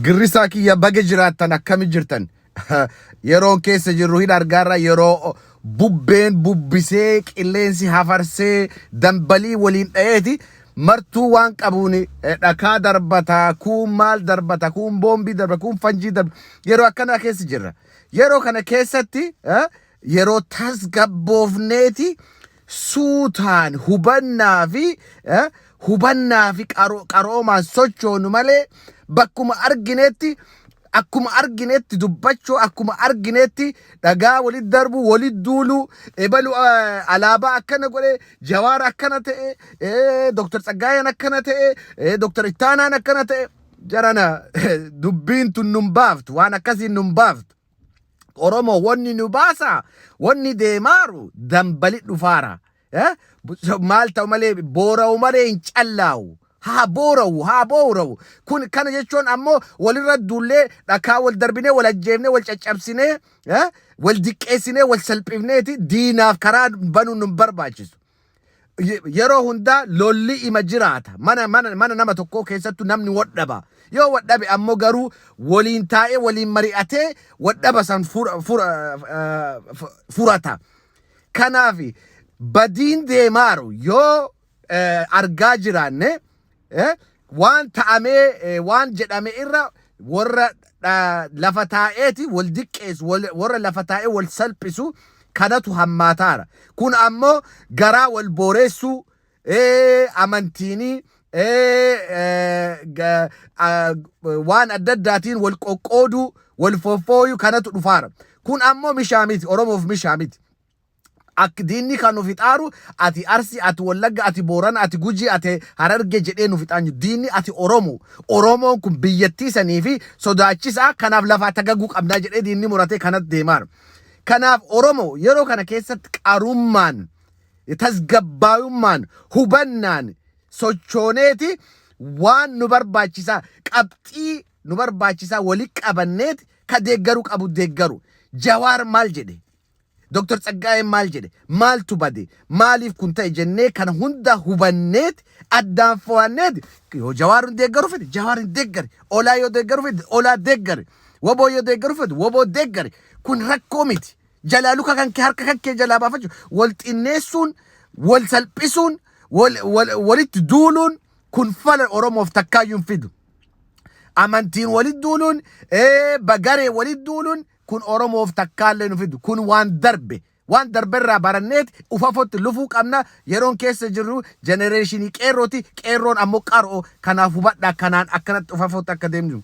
Girrisaa kiyya baga jiraattan akkami jirtan yeroon keessa jirru hin argaarra yeroo bubbeen bubbisee qilleensi hafarsee dambalii waliin dha'eeti martuu waan qabuun eh, dhakaa darbata kuun maal darbata kuun boombii darbata kuun fanjii darbata yeroo akkanaa keessa jirra yeroo kana keessatti eh, yeroo tasgabboofneeti suutaan hubannaa fi eh, hubannaa fi qaro- qaroomaan sochoonu malee bakkuma arginetti akkuma arginetti dubbachuu akkuma arginetti dhagaa walit darbuu walit duuluu ebalu eh, alaabaa akkana godhe jawaar akkana ta'e eh, doktar tsaggaayeen akkana ta'e eh, doktar ittaanaan akkana ta'e jarana dubbiin tun nun baaftu waan akkasiin nun baaftu Oromo wonni nu baasa wonni deemaaru dambali dhufaara. Eh? Bu- Maal ta'u malee boora'u malee hin callaa'u. Haa boora'u, haa boora'u. Kun kana jechuun ammoo walirra duullee dhakaa wal darbinee wal ajjeefnee wal caccabsinee eh? wal diqqeessinee wal salphifneeti diinaaf karaa banuun nu hin barbaachisu. Ye- yeroo hundaa lolli ima jiraata mana mana mana nama tokkoo keessattu namni wadhaba yoo wadhabe ammoo garuu waliin taa'ee waliin mari'atee wadhaba san fura, fura, eh, fu- furata kanaaf badiin deemaaru yoo eh, argaa jiraanne eh, waan ta'amee eh, waan jedhame irra warra ah, lafa taa'eeti wal diqqeessu wal- warra lafa taa'ee wal salphisu kanatu hammaataara kun ammoo garaa wal booreessuu eh, amantiinii eh, eh, ga- ah, waan adda addaatiin wal qoqqooduu wal foffooyuu kanatu dhufaara kun ammoo mishaa miti oromoof mishaa miti Akk diinni kan nu fixaaru ati Arsi ati Wallagga ati Boorana ati Gujii ati Hararge jedhee nu fixaan jiru diinni ati Oromo Oromoon kun biyyattii sanii fi sodaachisaa kanaaf lafaa tagaguu qabnaa jedhee diinni muratee kanat deemaar kanaaf Oromo yeroo kana keessatt qarummaan tasgabbaayummaan hubannaan sochooneeti waan nu barbaachisaa qabxii nu barbaachisaa wali qabanneet ka deeggaru qabu deeggaru Jawaar maal jedhe Dr. Tsaggaayeen maal jedhe? Maaltu bade? Maaliif kun ta'e jennee kana hunda hubanneeti addaan fo'anneeti yoo Jawaar hin deeggaru fedhe Jawaar hin deeggari. Olaa yoo deeggaru fedhe Olaa deeggari. Woboo yoo deeggaru fedhe Woboo deeggari. Kun rakkoo miti. Jalaa luka kan kee harka kan kee jalaa baafachuu wal xinneessuun wal salphisuun wal- wal- walitti duuluun kun fala Oromoof takkaayyuu hin fidu. amantiin walit duuluun, ee, bagaree walit duuluun Kun Oromoof takkaallee nu fidu. Kun waan darbe. Waan darberraa baranneet ufafotti lufuu qabna. Yeroon keessa jirru jenereeshinii qeerrooti. Qeerroon ammoo qaroo. Kanaaf hubadhaa kanaan akkanatti ufafotti akka deemnu.